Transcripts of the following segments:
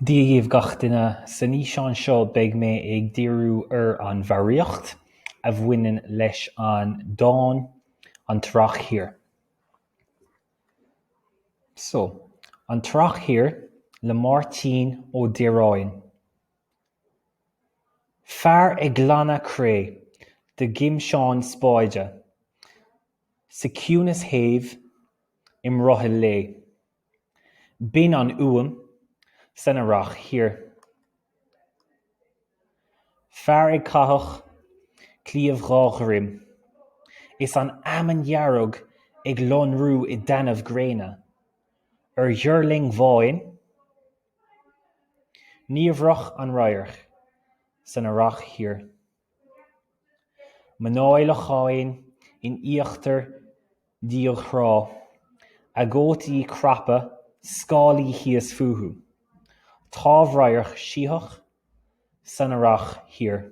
Dia dhaoibh gach duine! San fhíseán seo beidh mé ag díriú ar an bhfoghraíocht a bhaineann leis an dán An tEarrach Thiar. So. An tEarrach Thiar le Máirtín Ó Direáin. Fear ag glanadh cré de ghimseán spáide, sa chiúnas shéimh i mbrothall lae. Binn an fhuaim san Earrach thiar. Fear ag caitheadh cliabh dhá dhroim is an fheamainn dhearg ag lonrú i dtaitneamh gréine ar dhuirling bháin niamhrach an radharc san Earrach thiar. Mná i locháin in íochtar diaidh-thrá, a gcótaí craptha, scáilí thíos fúthu. Támh-radharc sítheach san earrach thiar.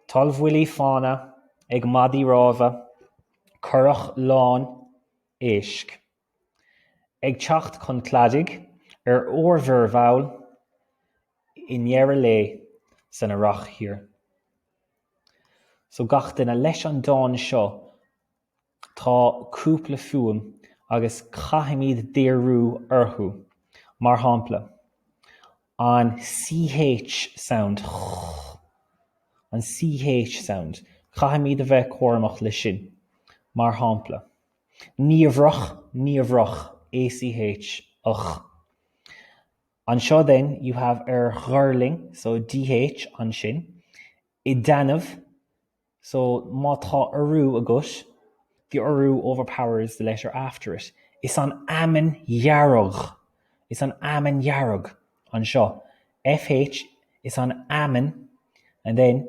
Toll-bhuillí fanna ag maidí rámha, curach lán éisc. Ag teacht chun cladaigh ar ór-mhuir mhall i ndeireadh lae san Earrach thiar. So gach duine leis an dán seo tá cúpla fuaim agus caithfimid díriú orthu. Mar shampla, an CH sound, an CH sound, caithfimid a bheith cúramach leis sin. Mar shampla. niamhrach niamhrach ACH ach Anseo then you have ar dhuirling so DH ansin i dtaitneamh so má tá urú agat the urú overpowers the letter after it is an fheamainn dhearg is an fheamainn dhearg anseo FH is an fheamainn and then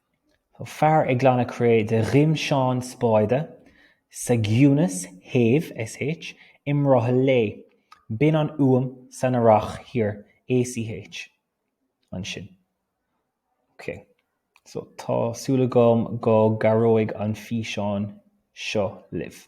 Fear ag glanadh cré de ghimseán spáide, sa gciúnas shéimh, sh. i mbrothall lae. Binn an fhuaim san earrach thiar, ACH. ansin. Ok. So, tá súil agam go gcabhróidh an físeán seo libh.